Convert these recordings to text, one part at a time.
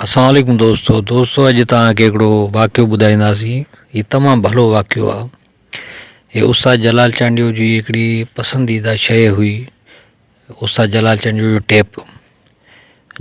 السلام عليڪم دوستو دوستو اڄ توهان کي هڪڙو واقعو ٻڌائينداسين هي تمام ڀلو واقعو آهي هي استاد جلال چانڊيو جي هڪڙي پسنديده شيء هئي استاد جلال چانڊيو جو ٽيپ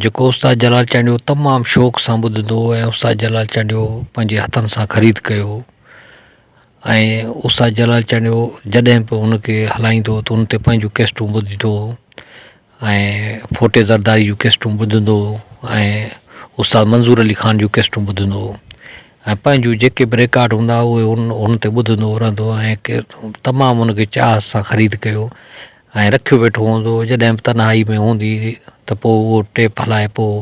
جيڪو استاد جلال چانڊيو تمام شوق سان ٻڌندو هو ۽ استاد جلال چانڊيو پنهنجي هٿن سان خريد ڪيو ۽ استاد جلال چانڊيو جڏهن به ان کي هلائيندو هو ته ان تي پنهنجون ڪيسٽون ٻڌيندو هو ۽ ڦوٽي زرداري جون ڪيسٽون ٻڌندو هو ۽ استاد منظور علي خان جون ڪيسٽون ٻڌندو هو ۽ پنهنجون جيڪي به رڪارڊ هوندا هئا اهي ان ان تي ٻڌندو هو رهندو هو ۽ تمام ان کي چاهت سان خريد ڪيو ۽ رکيو ويٺو هوندو هو جڏهن به تنهائي ۾ هوندي هئي ته پوء اهو ٽيپ هلائي پوء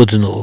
ٻڌندو هو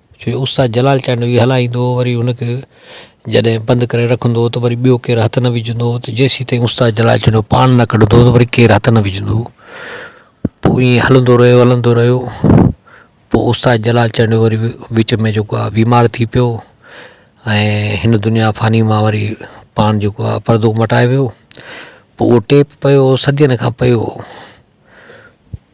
جو استاد جلال چانڊوي هلائيندو هو وري ان کي جڏهن بند ڪري رکندو هو ته وري ٻيو ڪير هٿ نه وجهندو هو ته جيسين تائين استاد جلال چانڊوي پاڻ نه ڪڍندو هو ته وري ڪير هٿ نه وجهندو هو پوء ائين هلندو رهيو هلندو رهيو پوء استاد جلال چانڊوي وري وچ ۾ جيڪو آهي بيمار ٿي پيو ۽ هن دنيا فاني مان وري پاڻ جيڪو آهي پردو مٽائي ويو پوء اهو ٽيپ پيو صدين کان پيو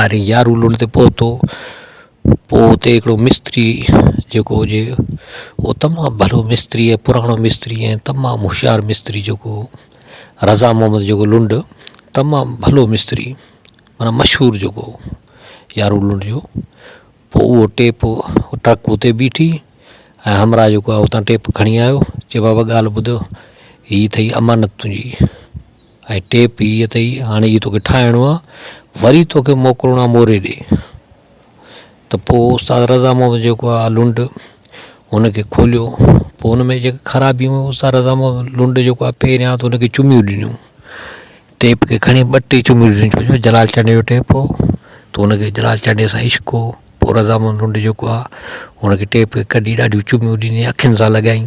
آري يارو لنڊ تي پهتو، پوء اتي هڪڙو مستري جيڪو هجي اهو تمام ڀلو مستري ۽ پراڻو مستري ۽ تمام هوشيار مستري جيڪو هو رضا محمد جيڪو لنڊ تمام ڀلو مستري معنيٰ مشهور جيڪو هو يارو لنڊ جو پوء اهو ٽيپ ٽرڪ اتي بيٺي ۽ همراهه جيڪو آهي اتان ٽيپ کڻي آيو چي بابا ڳالهه ٻڌ هي اٿئي امانت تنهنجي ۽ ٽيپ هي اٿئي هاڻي هي توکي ٺاهڻو آ وري توکي موڪلڻو آ موري ڏي ته پوء استاد رضا محمد جيڪو آ لنڊ هن کي کوليو پوء هن ۾ جيڪي خرابيون هيون استاد رضا محمد لنڊ جيڪو آ پهريان ته هن کي چميون ڏنيون ٽيپ کي کڻي ٻه ٽي چميون ڏنيون ڇو جو جلال چانڊيو جو ٽيپ هو ته هن کي جلال چانڊيو سان عشق هو پوء رضا محمد لنڊ جيڪو آ هن کي ٽيپ کي ڪڍي ڏاڍيون چميون ڏنيون اکين سان لڳائين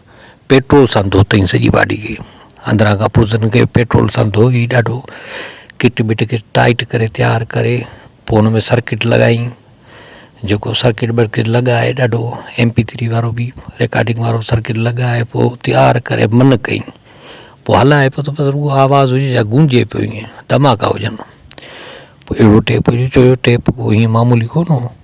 پيٽرول سان ڌوتائين سڄي باڊي کي اندران کان پرزن کي پيٽرول سان ڌوئي ڏاڍو ڪٽ بٽ کي ٽائيٽ ڪري تيار ڪري پوء ان ۾ سرڪٽ لڳائين جيڪو سرڪٽ برڪٽ لڳائي ڏاڍو ايم پي ٿري وارو بي رڪارڊنگ وارو سرڪٽ لڳائي پوء تيار ڪري من ڪئين پوء هلائي پيو ته بس رڳو آواز هجي جا گونجي پيو ائين ڌماڪا هجن پوء اهڙو ٽيپ هجي ڇو جو ٽيپ ڪو ائين معمولي ڪونه هو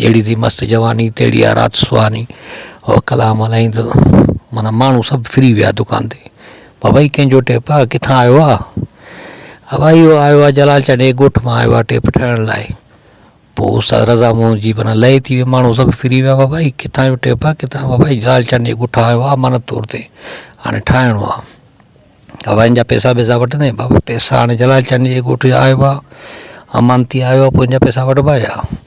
جهڙي ٿي مست جواني تهڙي آ رات سهاني او ڪلام هلائين ته معنيٰ ماڻهو سڀ ڦري ويا دڪان تي بابا هي ڪنهنجو ٽيپ آ ڪٿان آيو آ اهو آ اهو آيو آ جلال چانڊيي جي ڳوٺ مان آيو آ ٽيپ ٺاهڻ لاء پوء استاد رضا مون جي معنيٰ لئي ٿي وئي ماڻهو سڀ ڦري ويا بابا هي ڪٿان جو ٽيپ آ ڪٿان بابا هي جلال چانڊيي جي ڳوٺ آيو آ امانت طور تي هاڻي ٺاهڻو آ بابا هن جا پئسا وئسا وٺندين بابا پئسا هاڻي جلال چانڊيي جي ڳوٺ جا آيو آ امانتي آيو آ پوء هن جا پئسا وٺبا ڇا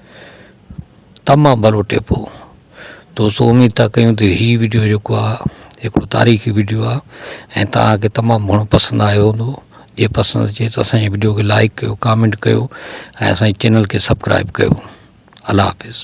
تمام ڀلو ٽيپ هو دوستو اميد ٿا ڪيون ته هي ويڊيو جيڪو آ هڪڙو تاريخي ويڊيو آ ۽ توهان کي تمام گهڻو پسند آيو هوندو جي پسند اچي ته اسان جي ويڊيو کي لائڪ ڪيو ڪامينٽ ڪيو ۽ اسان جي چينل کي سبڪرائب ڪيو الله حافظ